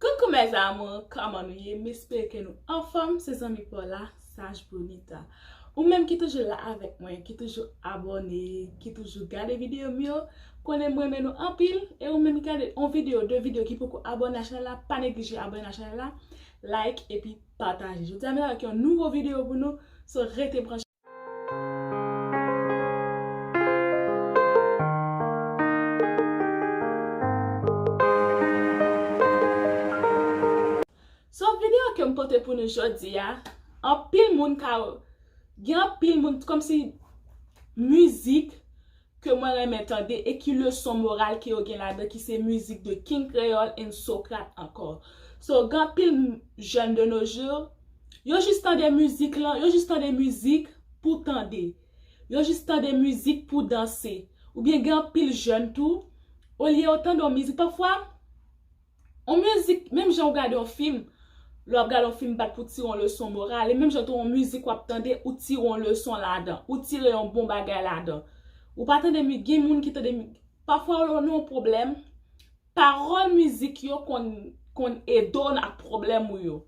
Coucou mes amours kòman nou ye m espere ke nou anfòm se zanmi paw la saj brunita ou menm ki toujou la avèk mwen ki toujou abòne ki toujou gade videyo m yo konnen m renmen nou anpil e ou menm ki gade on videyo de videyo ki poko abòne a chanèl la pa neglije abòne a chanèl la like epi pataje jodi a m vin avèk yon nouvo videyo pou nou so rete branche. So video kem pote pou nou jodia anpil moun ka gen anpil moun komsi mizik ke mwen renmen tande e ki leson moral ke yo gen ladan ki se mizik de King Kreyol and Socrate ankò. So gen anpil jèn de nos jours, yo jis tande mizik lan, yo jis tande mizik pou tande. Yo jis tande mizik pou danse. Oubyen gen anpil jèn tou, olye yo tande yon mizik, pafwa, On mizik, menm jan ou gade on fim, lè wap gade on fim bat pou tire on leson moral, e menm jan tou on mizik wap tande ou tire on leson ladan, ou tire yon bon bagay ladan. Ou pa tande mi, gen moun ki tande mi, pafwa lè w nan on pwoblèm, pawòl mizik yo konn, konn ede w nan ak pwoblèm ou yo.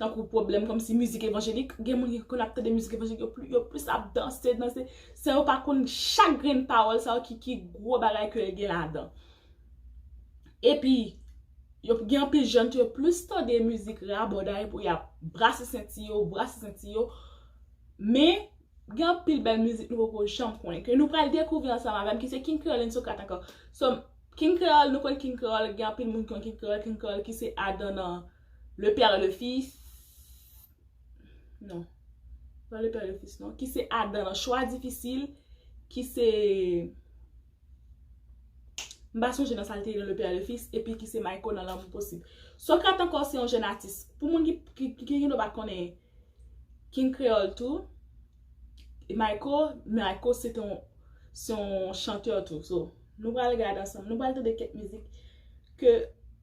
Tankou pwoblèm kòm si mizik evanjelik, gen moun ki konn ap tande mizik evanjelik, yo pli, yo plis ap danse, danse, san yo pa konn chak grenn pawòl sa yo ki, ki gwo bagay ke l gen ladan. Epi, yo gen anpil jèn tou yo plis tande mizik rabòday pou y ap brase senti yo, brase senti yo. Men, gen anpil bèl mizik nou poko janm konnen. Ke nou pral dekouvri ansanm avè m ki se King Kreyòl and Sokrat ankò. So, King Kreyòl, nou konn King Kreyòl, gen anpil moun ki konn King Kreyòl, King Kreyòl ki se Adan nan Le Père et le Fils. Non. Nan Le Père et le Fils non. Ki se Adan nan Choix Difficile. Ki se... M pa sonje nan sa l te ye nan Le Père et le Fils epi ki se Mayko nan Lanmou Posib. Socrate ankò se yon jèn atis. Pou moun ki gen dwa pa konnen King Kreyòl tou, Mayko, Mayko se te yon chantè tou. So, nou pral gade ansanm, nou pral tande kèk mizik ke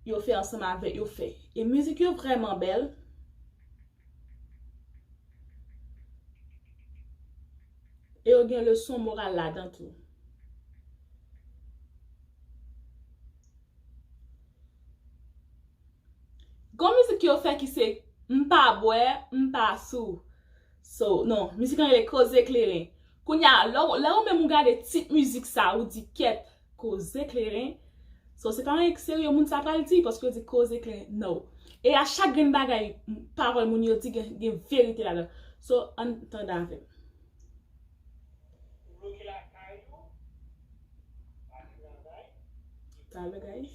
yo fè ansanm avè, yo fè. E mizik yo vrèman bèl. E yo gen leson moral ladan tou. Gon mizik yo fè ki se M pa bwè, m pa sou. So, non, mizik lan rele Koze Kleren. Kounye a, lè ou menm ou gade tit mizik sa, ou di kèt. Koze kleren So se pa yon ekserye moun sa pral di paske yo di koze kleren No e a chak grenn bagay pawòl moun yo di gen verite ladan So ann tande avèm. Ou bloke lakay ou pa travay. Talè guys.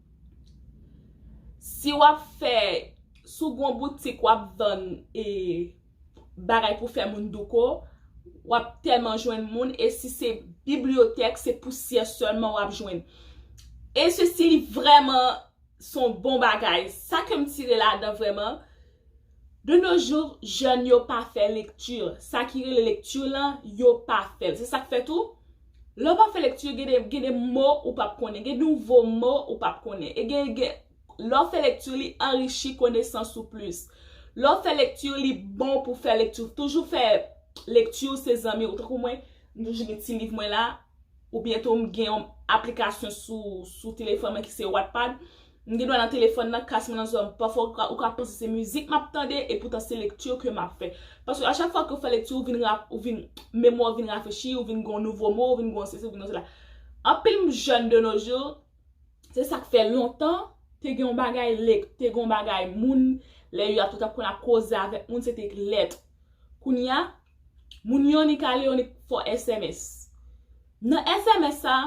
Si wap fè sou gon boutik wap vann e bagay pou fè moun douko, wap tèlman jwenn moun e si se bibliyotèk se pousyè sèlman wap jwenn. E se si li vrèman son bon bagay. Sa ke m tire ladan vrèman, de nos jours jèn yo pa fè lekti. Sa ki rele lekti lan yo pa fèl. Se sak fè tou Lè w pa fè lekti yo gen de gen de mo ou p ap konnen, gen nouvo mo ou p ap konnen. E gen gen lè w fè lekti yo li anrichi konesans ou plis. Lè w fè lekti yo li bon pou fè lekti. Toujou fè lekti ou se zanmi ou. Tankou mwen, m toujou gen ti liv mwen la. Oubyen tou m gen yon aplikasyon sou sou telefòn mwen ki se Wattpad. M gen dwa nan telefòn nan, kas mwen nan zòrèy m pafwa ou ka panse se mizik map tande epoutan se lekti ke map fè. Paske a chak fwa ke ou fè lekti ou vin rap ou vin memwa ou vin rafrechi ou vin gen yon nouvo mo ou vin gen yon sesi ou vin gen yon sela. Anpil m jèn de nos jours se sak fè lontan te gen yon bagay lek te gen yon bagay moun lè yo ap tout ap konn ap koze avèk moun se te lèt. Kounya Moun yonik ale yonik fò sms. Nan sms sa,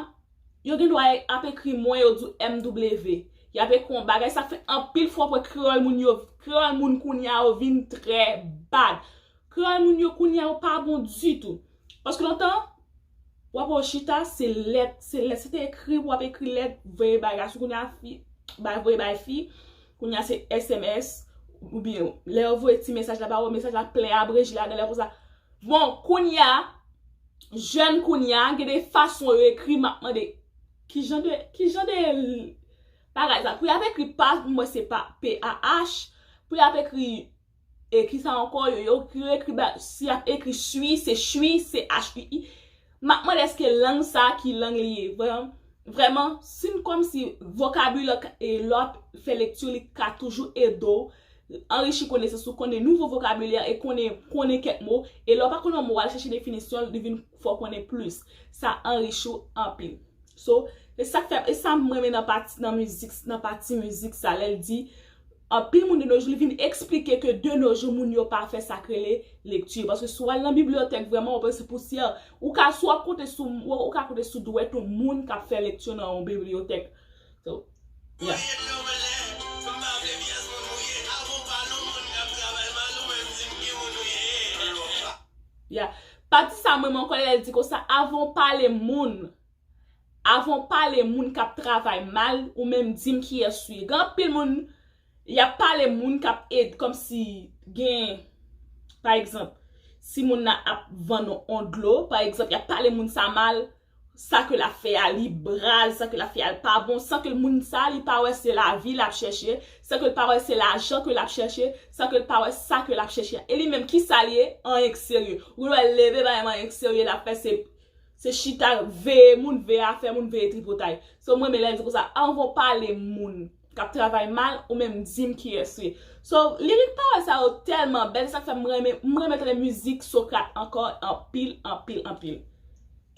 yo gen dwa ap ekri mwen yo di w MW. Y ap ekri yon bagay, sa fè anpil fwa pou kreyòl moun yo, kreyòl moun kounye a yo vin trè bad. Kreyòl moun yo kounye a yo pa bon ditou. Paske lontan, w ap wè yo chita, se lèt, se lèt. Se te ekri, w ap ekri lèt, voye bagay gason. Kounye a, fi, bay voye bay fi. Kounya se sms ou byen lè yo voye ti mesaj la ba ou mesaj la plen abreje ladan lè konsa bon kounya jèn kounya gen de fason yo ekri map mande ki jan de ki jan de bagay sa pou yap ekri pa mwen se pa p a h pou yap ekri E kisa ankò yo yo yo ekri ba si yap ekri swi se chwi CHUI map mande eske lang sa ki lang li ye vre vrèman si n kòmsi vokabilè e lè wap fè lekti li ka toujou ede w anrichi konesans ou konnen nouvo vokabilè e konnen konnen kèk mo e lè w pa konn yon mo wal chèche definisyon l li vin fè w konnen plis sa anrichi w anpil so e sak fè e sam renmen nan pati nan mizik nan pati mizik sa lèl di Anpil moun de nos jours li vin esplike ke de nos jours moun yo pa fè sa k rele lekti paske si w al nan bibliyotèk vrèman wap wè se pousyè ou ka si wap konte sou ou ka konte sou dwèt ou moun kap fè lekti nan yon bibliyotèk so yeah pati sa mwen renmen ankò lèl di konsa avan w pale moun Avanw pale moun kap travay mal ou menm dim kiyes ou ye gen anpil moun yap pale moun kap ed komsi gen pa egzanp si moun nan ap vann on dlo pa egzanp yap pale moun sa mal sa ke lap fè a li braz sa ke lap fè a li pa bon san ke moun sa li pa wè se lavi lap chèche san ke l pa wè se lajan ke lap chèche san ke l pa wè sa ke lap chèche a e li menm kisa li ye anyen ki serye ou wèl leve pa menm anyen ki serye lap fè se Se chita veye moun, veye afè moun, veye tripotay. So m renmen lè l di konsa, anvan w pale moun k ap travay mal, ou menm di m kiyès ou ye. So, lirik pawòl sa yo tèlman bèl, se sa k fè m renmen, m renmen tande mizik Socrate ankò anpil, anpil, anpil.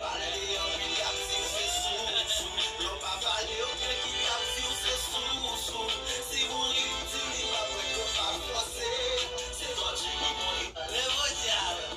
Pale li anpil yap diw se sou sou lèw pa pale yo gen ki tap diw se sou sou si moun li itil li pa bwè yo pa fòse se vòlje ki bon li pa lè vòlje a lè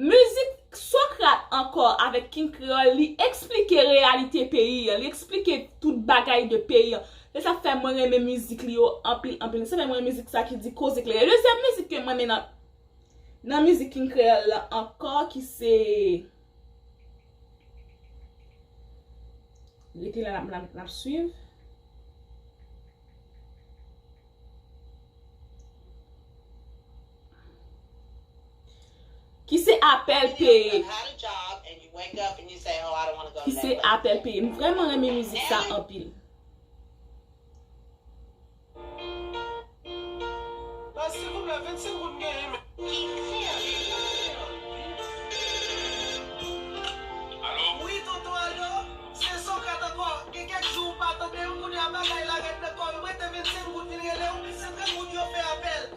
Mizik Socrat ankò avèk King Kreyòl li eksplike reyalite peyi an, li eksplike tout bagay de peyi an. Se sa k fè mwen renmen mizik li yo anpil anpil. Se sa k fè m renmen mizik sa ki di koze klere. Dezyèm mizik ke m renmen nan nan mizik King Kreyòl la ankò ki se Rete la n ap swiv Ki se apèl peye. Ki se apèl peye. M vreman renmen mizik sa anpil.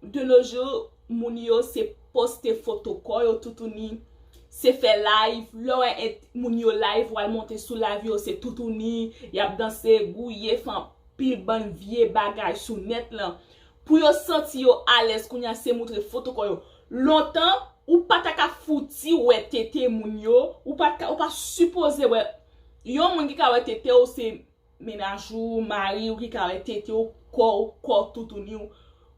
De nos jours moun yo se poste foto kò yo toutouni, se fè live, lè w wè moun yo live wal monte sou live yo se toutouni, yap danse, gouye, fè anpil bann vye bagay sou nèt lan. Pou yo santi yo alèz kounye a se moutre foto kò yo. Lontan ou pa ta ka fouti wè tete moun yo, ou pa ta ka, ou pa sipoze wè yon moun ki ka wè tete w se Mennaj ou, mari ou ki ka wè tete w, kò w, kò toutouni w.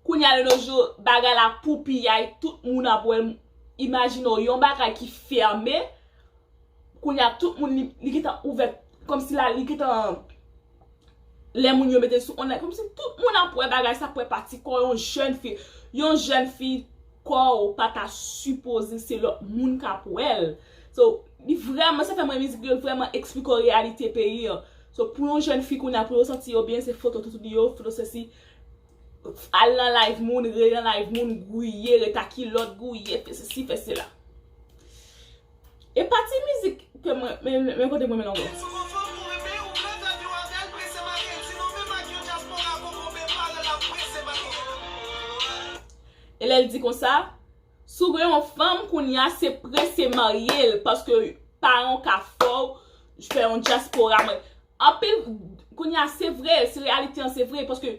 Kounye a de nos jours, bagay la pou piyay, tout moun ap wè. Imajine w yon bagay ki fème, kounye a tout moun li gentan ouvè, kòm si la li gentan, lè moun yo mete l sou onlyn, kòm si tout moun ap wè bagay sa, ap wè pati kò yon jèn fi, yon jèn fi. Kòw pa ta sipoze se lòt moun kap wèl so li vrèman sa fèm renmen mizik li yo l vrèman eksplike w reyalite peyi an so pou yon jèn fi kounya pou yo santi yo byen se foto toutou li yo foto sesi al nan live moun rele nan live moun gouye ret a kilòt gouye fè sesi fè sela. E pa ti mizik ke mwen men kote mwen mennen w. E lè l di konsa, si w gen yon fanm kounye a se prese marye l paske paran w ka fè w fè yon dyaspora. Anpil, kounye a se vre, si reyalite an se vre paske.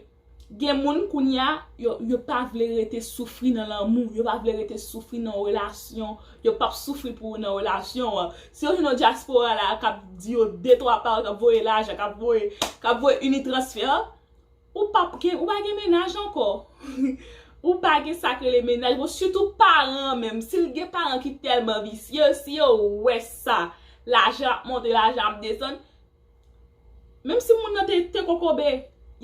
Gen moun kounya yo pa vle rete soufri nan lanmou, yo pa vle rete soufri nan relasyon, yo pap soufri pou ou nan relasyon an. Si yo jwenn yon dyaspora la a kap di yo de twa pawòl, kap voye lajan, kap voye, kap voye unitransfer, ou pap gen, ou pa gen mennaj ankò. Ou pa gen sa k rele mennaj ankò, sitou paran an menm, si l gen paran ki tèlman visye, si yo wè sa, lajan ap monte, lajan ap desann. Menm si moun nan te te kokobe,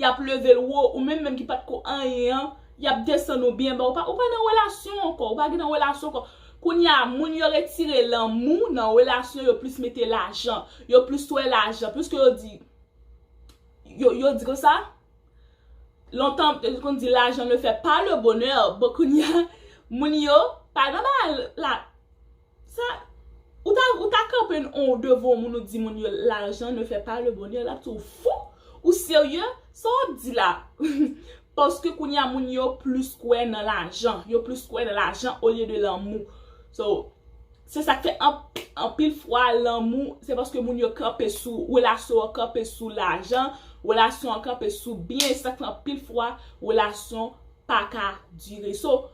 yap leve l wo, ou menm menm ki pat ko anyen an, yap desann ou byen ba, ou pa nan relasyon ankò, ou pa gen nan relasyon ankò. Kounye a, moun yo retire lanmou nan relasyon yo plis mete lajan, yo plis wè lajan, piske yo di, yo di kon sa, lontan yo te konn di lajan ne fè pa le bonè, bon kounye a, moun yo pa nan bagay la. Sa Ou ta ou ta kanpe on devan on moun ou di moun yo l'argent ne fait pas le bonheur lap di w fou Ou serye Sa wap di la Paske kounye a moun yo plis kwè nan lajan Yo plis kwè nan lajan olye de lanmou So Se sak fè anp anpil fwa lanmou se paske moun yo kanpe sou relasyon an kanpe sou lajan Relasyon an kanpe sou byen se sak fè anpil fwa relasyon pa ka dire So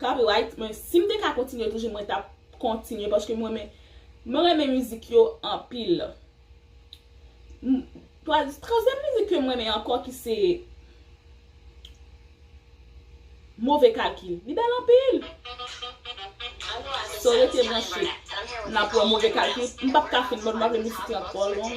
Copyright mwen sim te ka kontinye toujou mwen tap kontinye paske mwen renmen mwen renmen mizik yo anpil tranzyèm mizik ke mwen renmen ankò ki se move kalkil li bèl anpil so rete branche nap wè move kalkil m pap ka fin m pa vle misik lan twò long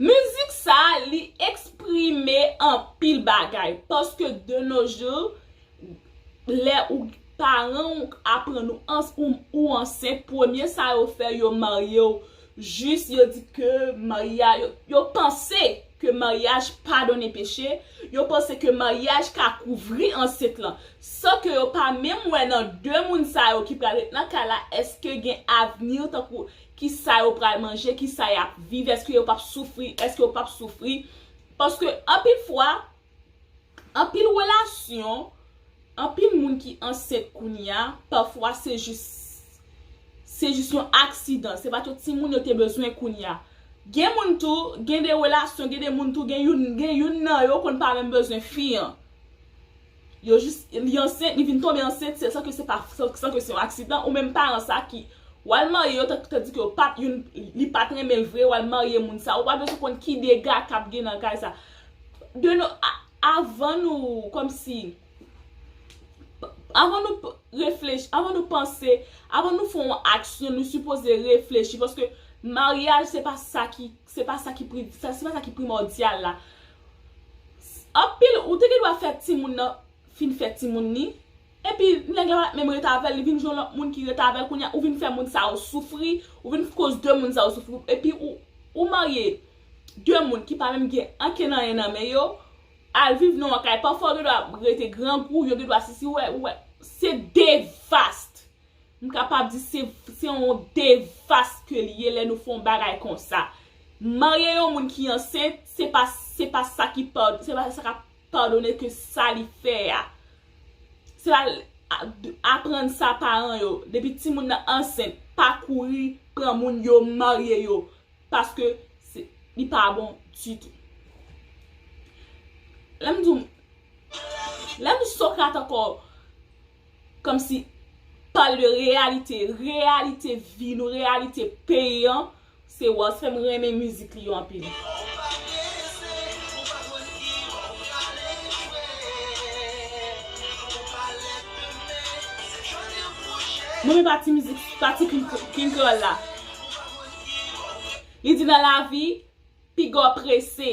Mizik sa li eksprime anpil bagay paske de nos jours lè ou paran ou aprann ou ansent premye sa yo fè yo maryew jis yo di ke maryaj yo panse ke maryaj padone peche yo panse ke maryaj ka kouvri ansent lan san ke yo pa menm wè nan de moun sa yo ki pral ret nan kay la eske gen avni tankou ki sa yo pral manje, ki sa y ap viv, èske yo p ap soufri, èske yo p ap soufri. Paske anpil fwa, anpil relasyon, anpil moun ki ansent kounye a, pafwa se jis, se jis yon aksidan. Se pa tout ti moun yo te bezwen kounye a. Gen moun tou, gen de relasyon, gen de moun tou, gen youn, gen youn nan yo konn pa menm bezwen fi an. Yo jis li ansent li vin tonbe ansent se san ke se pa san ke se yon aksidan ou menm paran sa ki wal marye yo tandis ke yo pat youn li pat renmen l vre wal marye moun sa ou pa bezwen konn ki dega kap gen nan kay sa de nou avan nou kòmsi avan nou reflechi avan nou panse avan nou fon yon aksyon nou sipoze reflechi paske maryaj se pa sa ki se pa sa ki pri se pa sa ki primòdyal la. Anpil ou te gen dwa fè timoun nan fin fè timoun ni epi nèg la pat menm ret avèl li vin jwenn lòt moun ki ret avèl kounya ou vin fè moun sa yo soufri ou vin koz de moun sa yo soufri epi ou marye de moun ki pa menm gen ankenn anyen nan men yo al viv nan yon kay pafwa ou gen dwa rete grangou yo gen dwa si si ou wè se devaste. M kapab di se yon devas ke li ye lè nou fè yon bagay konsa. Marye yon moun ki ansent, se pa se pa sa ki se pa sa kap padone ke sa li fè a. Se pa aprann sa paran yo, depi timoun nan ansent, pa kouri pran moun yo marye yo, paske li pa bon ditou. Lè m di w, lè m Socrate ankò. Kòm si pale de reyalite, reyalite vi nou, reyalite peyi an, se wòl sa fè m renmen mizik li yo anpil. Mwen renmen pati mizik, pati King Krèol la. Li di nan lavi, piga w prese,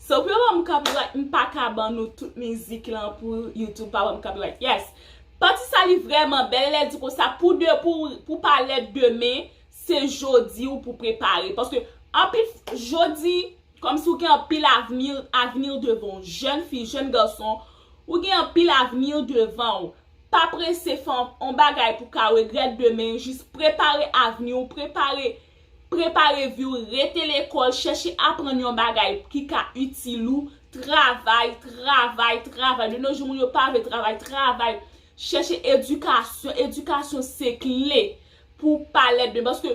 So pou yo banm copyright m paka ban nou tout mizik lan pou YouTube pa banm copyright yes Pati sa li vrèman bèl lèl di konsa pou de pou pou pa lèd demen se jodi ou pou prepare paske anpil jodi kòmsi ou gen anpil avni avni devan w jèn fi jèn gason ou gen anpil avni devan w pa prese fè on bagay pou ka regrèt demen jis prepare avni w prepare Prepare vi w Rete lekòl Chèche aprann yon bagay ki ka itil ou Travay Travay Travay De no jou moun yo pa vle travay Travay Chèche edikasyon Edikasyon se kle pou w pa lèd men paske